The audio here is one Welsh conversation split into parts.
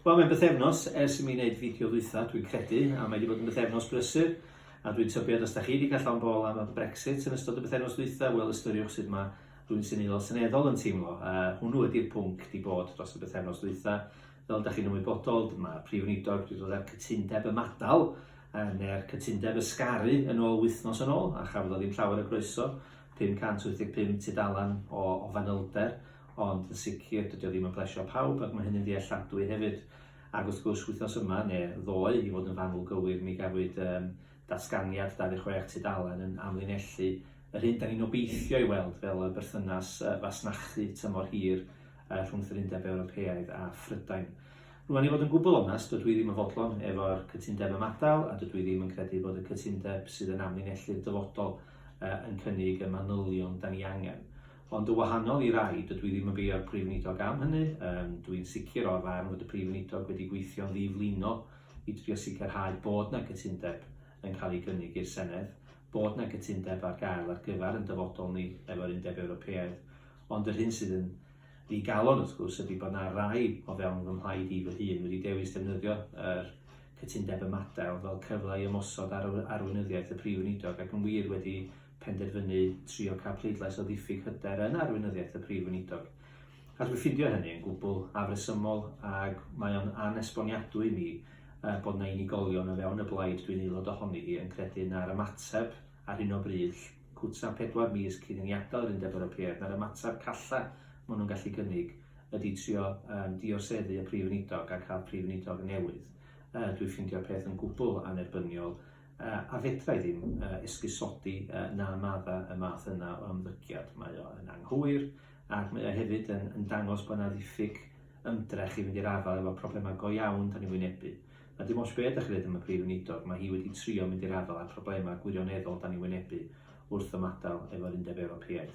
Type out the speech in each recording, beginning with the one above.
Wel, mae'n bythefnos ers i mi wneud fideo ddwytha, dwi'n credu, a mae wedi bod yn bythefnos brysur, a dwi'n tybio at os da chi wedi cael llawn bol am y Brexit yn ystod y bythefnos ddwytha, wel, ystyriwch sydd mae rwy'n sy'n eilol seneddol yn teimlo. Uh, hwnnw ydy'r pwnc di bod dros y bythefnos ddwytha. Fel da chi'n ymwybodol, mae Prif Weinidog wedi dod â'r cytundeb ymadal, uh, neu'r cytundeb ysgaru yn ôl wythnos yn ôl, a chafodd o ddim llawer o groeso, 585 tudalan o, o fanylder, ond yn sicr dydi o ddim yn plesio pawb ac mae hynny'n ddealladwy hefyd. Ac wrth gwrs wythnos yma, neu ddoe i fod yn fanwl gywir, mi gafwyd um, datganiad 26 tudalen yn amlinellu yr hyn da ni'n obeithio ei weld fel y berthynas uh, fasnachu tymor hir uh, rhwngth yr Undeb Ewropeaidd a Phrydain. Rwy'n ei fod yn gwbl onest, dydw i ddim yn fodlon efo'r cytundeb ymadael a dydw i ddim yn credu bod y cytundeb sydd yn amlinellu'r dyfodol uh, yn cynnig y manylion da ni angen. Ond yn wahanol i rai, dydw i ddim yn beio'r Prif Weinidog am hynny. Um, dw i'n sicr o'r farn fod y Prif Weinidog wedi gweithio'n ddiflino i drio sicrhau bod yna gytundeb yn cael ei gynnig i'r Senedd, bod yna gytundeb ar gael ar gyfer yn dyfodol ni efo'r Undeb Ewropeaidd. Ond yr hyn sydd yn ddi galon wrth gwrs ydy bod yna rai o fewn fy mhlaid i fy hun wedi dewis defnyddio yr cytundeb ymadael fel cyfle i ymosod ar arweinyddiaeth y Prif Weinidog ac yn wir wedi penderfynu trio cael pleidlais o ddiffyg hyder yn arweinyddiaeth y Prif Weinidog. A dwi'n ffindio hynny yn gwbl afresymol ac mae o'n anesboniadwy i mi uh, bod na unigolion o fewn y blaid dwi'n aelod ohoni hi yn credu na'r ymateb ar hyn o bryd cwta pedwar mis cyn i ni adael yr Undeb Ewropeaidd na'r ymateb calla maen nhw'n gallu gynnig ydy trio um, dioseddu y Prif Weinidog a cael Prif Weinidog newydd. Uh, dwi'n ffindio peth yn gwbl anerbyniol A fedrai ddim esgusodi na madda y math yna o ymddygiad. Mae o yn anghywir, ac mae o hefyd yn, yn dangos bod yna ddiffyg ymdrech i fynd i'r afael efo problemau go iawn da ni'n wynebu. A dim ots be' 'dach chi'n ddeud am y Prif Weinidog, mae hi wedi trio mynd i'r afael â'r problemau gwirioneddol da ni'n wynebu wrth ymadael efo'r Undeb Ewropeaidd.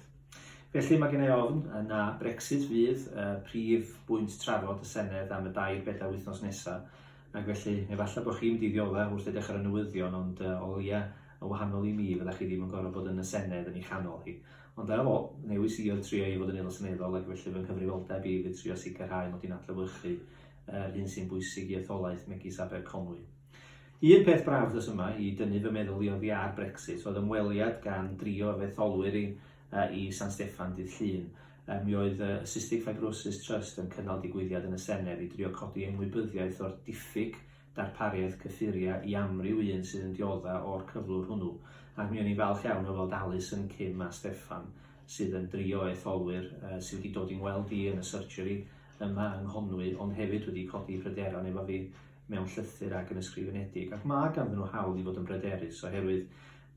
Felly mae gen i ofn na Brexit fydd y prif bwynt trafod y Senedd am y dair bedair wythnos nesaf, Ac felly, efallai bod chi'n mynd i ddiodda' wrth edrych ar y newyddion, ond yy, o leia', yn wahanol i mi, fyddech chi ddim yn gorfod bod yn y Senedd yn ei chanol hi. Ond ar ôl, newis i oedd trio i fod yn Aelod Seneddol, ac felly fy nghyfrifoldeb i fydd trio sicrhau mod i'n adlewyrchu yr hyn sy'n bwysig i etholaeth megis Aberconwy. Un peth braf ddos yma i dynnu fy meddwl i oddi ar Brexit oedd ymweliad gan drio fy etholwyr i i San Steffan dydd Llun. Mi oedd y Cystic Fibrosis Trust yn cynnal digwyddiad yn y Senedd i drio codi ymwybyddiaeth o'r diffyg darpariaeth cyffuriau i amryw un sydd yn diodda' o'r cyflwr hwnnw, ac mi o'n i'n falch iawn o weld Alison, Kim a Steffan sydd yn dri o etholwyr sy wedi dod i'n ngweld i yn y surgery yma yng Nghonwy ond hefyd wedi codi pryderon efo fi mewn llythyr ac yn ysgrifenedig, ac ma' ganddyn nhw hawl i fod yn bryderus oherwydd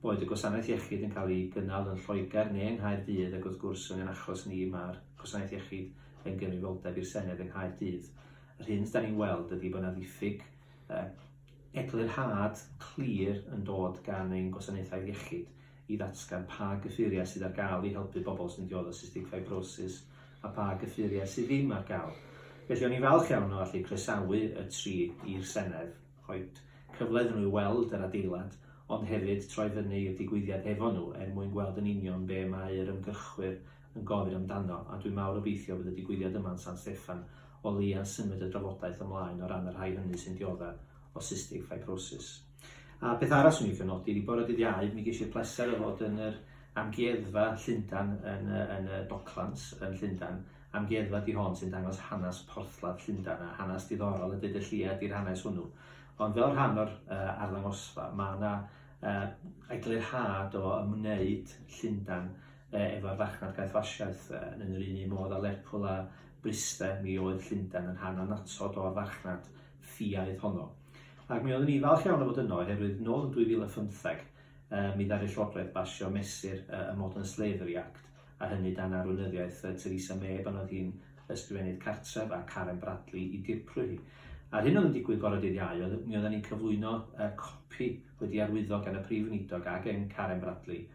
Boed y gwasanaeth iechyd yn cael ei gynnal yn Lloegr neu yng Nghaerdydd ac wrth gwrs yn ein achos ni mae'r gwasanaeth iechyd yn gyfrifoldeb i'r Senedd yng Nghaerdydd. Yr hyn dan ni'n weld ydi bod yna ddiffyg yy eglurhad clir yn dod gan ein gwasanaethau iechyd i ddatgan pa gyffuriau sydd ar gael i helpu pobl sy'n dioddef cystic ffibrosis a pha gyffuriau sydd ddim ar gael. Felly o'n i'n falch iawn o allu croesawu y tri i'r Senedd. rhoid cyfle iddyn nhw i weld yr adeilad, ond hefyd troi fyny i'r digwyddiad efo nhw er mwyn gweld yn union be mae yr ymgyrchwyr yn gofyn amdano, a dwi'n mawr obeithio bydd y digwyddiad yma yn San Steffan o leia'n symud y drafodaeth ymlaen o ran y rhai hynny sy'n diodde' o cystic fibrosis. A peth arall 'swn i'n licio nodi ydi bore dydd Iau mi ges i'r pleser o fod yn yr Amgueddfa Llundan yn y yn y Docklands yn Llundan, Amgueddfa di hon sy'n dangos hanes porthladd Llundain a hanes diddorol y byd y lleied i'r hanes hwnnw. Ond fel rhan o'r uh, arddangosfa, mae yna uh, eglurhad o ymwneud Llundain uh, efo'r farchnad gaethwasiaeth uh, yn yr un un modd a Lerpwl a Bryste, mi oedd Llundain yn rhan annatod o'r farchnad ffiaidd honno. Ac mi oeddwn ni falch iawn o fod yno, oherwydd nôl yn 2015, uh, mi ddaru Llywodraeth basio mesur uh, y Modern Slavery Act, a hynny dan arweinyddiaeth Theresa May pan oedd hi'n Ysgrifennydd Cartref a Karen Bradley i dirprwy hi. A'r hyn oedd yn digwydd bore dydd Iau oedd mi oedden ni'n cyflwyno uh, copi wedi arwyddo gan y Prif Weinidog a gen Karen Bradley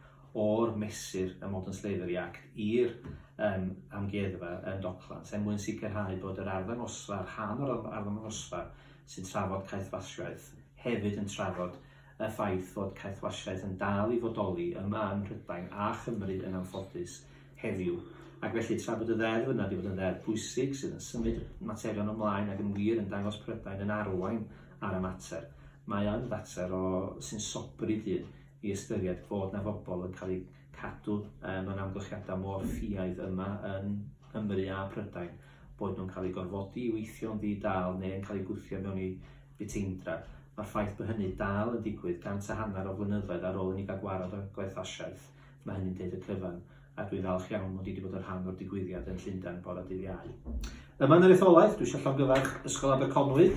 o'r mesur y Modern Slavery Act i'r um, amgueddfa yn Docklands er mwyn sicrhau bod yr arddangosfa, rhan o'r arddangosfa sy'n trafod caethwasiaeth hefyd yn trafod Y ffaith fod caethwasiaeth yn dal i fodoli yma ym Mhrydain a Chymru yn anffodus heddiw, ac felly tra bod y ddeddf yna wedi bod yn ddeddf pwysig sydd yn symud materion ymlaen ac yn wir yn dangos Prydain yn arwain ar y mater, mae o'n fater o sy'n sobri dyn i ystyried bod 'na fobol yn cael eu cadw mewn amgylchiadau mor ffiaidd yma yn Nghymru a Prydain, boed nhw'n cael eu gorfodi i weithio'n ddi-dâl neu yn cael eu gwthio mewn i fiteindra. Mae'r ffaith bod hynny dal yn digwydd gant a hanner o flynyddoedd ar ôl i ni gael gwared â'r gwerthasiaeth, mae hynny'n deud y cyfan, a dwi'n falch iawn mod i wedi bod yn rhan o'r digwyddiad yn Llundain bore dydd Iau. Yma yn yr etholaeth, dwi eisiau llongyfarch Ysgol Aberconwy,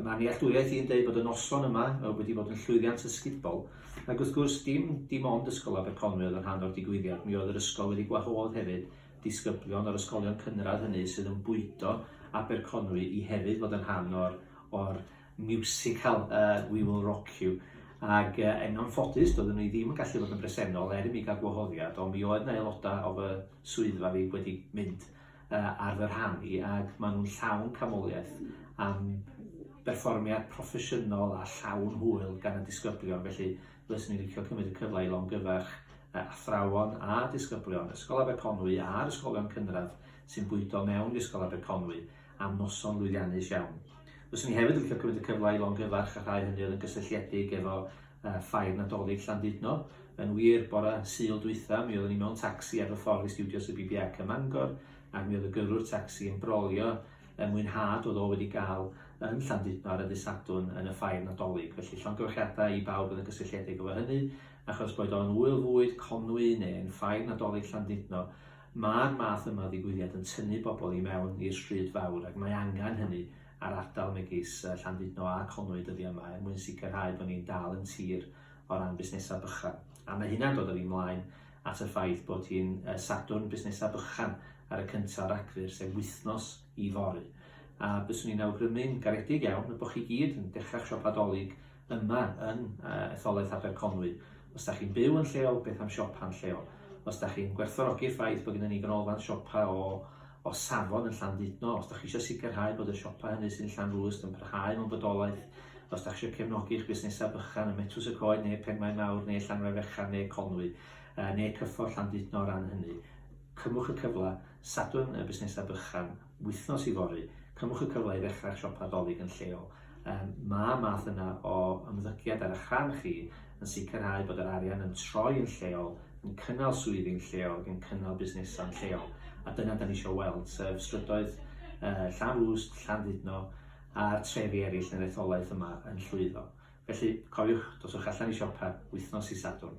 mae nealltwriaeth i'n deud bod y noson yma wedi bod yn llwyddiant ysgubol, ac wrth gwrs dim dim ond Ysgol Aberconwy oedd yn rhan o'r digwyddiad, mi oedd yr ysgol wedi gwahodd hefyd disgyblion o'r ysgolion cynradd hynny sydd yn bwydo Aberconwy i hefyd fod yn rhan o'r o'r miwsical yy We Will Rock You ag yy yn anffodus doedden ni ddim yn gallu fod yn bresennol er i mi gael gwahoddiad ond mi oedd 'na aelodau o fy swyddfa fi wedi mynd yy ar fy rhan i ag maen nhw'n llawn canmoliaeth am berfformiad proffesiynol a llawn hwyl gan y disgyblion felly fyswn i'n licio cymryd y cyfle i longyfarch yy athrawon a disgyblion Ysgol Aberconwy a'r ysgolion cynradd sy'n bwydo mewn i Ysgol Aberconwy am noson lwyddiannus iawn. Fyswn i hefyd yn licio cymryd y cyfle i longyfarch y rhai hynny oedd yn gysylltiedig efo uh, ffair Nadolig Llandudno. Yn wir, bore Sul dwytha, mi oeddwn i mewn tacsi ar y ffordd i studios y BBAC ym Mangor, ac mi oedd y gyrrwr tacsi yn brolio y mwynhad oedd o wedi gael yn Llandudno ar y dydd Sadwrn yn y ffair Nadolig. Felly llongyfarchiadau i bawb oedd yn gysylltiedig efo hynny, achos boed o'n ŵyl fwyd, Conwy neu'n ffair Nadolig Llandudno, Mae'r math yma o ddigwyddiad yn tynnu pobl i mewn i'r stryd fawr ac mae angen hynny ar ardal megis Llandudno a Conwy dyddiau yma er mwyn sicrhau bod ni'n dal yn tir o ran busnesau bychan. A mae hynna'n dod â fi mlaen at y ffaith bod hi'n Sadwrn Busnesau Bychan ar y cyntaf o Ragfyr, sef wythnos i fory. A byswn i'n awgrymu'n garedig iawn y bod chi gyd yn dechrau'ch siopa Dolig yma yn etholaeth Aberconwy. Os da chi'n byw yn lleol, beth am siopa'n lleol? Os da chi'n gwerthfawrogi'r ffaith bod gennym ni ganolfan siopa o o safon yn Llandudno, os da chi eisiau sicrhau bod y siopa hynny sy'n Llanrwst yn parhau mewn bodolaeth, os da chi eisiau cefnogi eich busnesau bychan ym Metws y Coed neu Penmaen Mawr neu Llanfair Fechan neu Conwy, neu Cyffordd Llandudno o ran hynny, cymwch y cyfle. Sadwrn y busnesau bychan, wythnos yfory, cymwch y cyfle i ddechrau siopa Dolig yn lleol. Mae'r math yna o ymddygiad ar eich rhan chi yn sicrhau bod yr arian yn troi yn lleol, yn cynnal swyddi'n lleol ac yn cynnal busnesau'n lleol. A dyna da ni eisiau weld, sef strydoedd Llanrwst, Llandudno a'r trefi eraill yn yr etholaeth yma yn llwyddo. Felly, cofiwch, doswch allan i siopa wythnos i Sadwrn.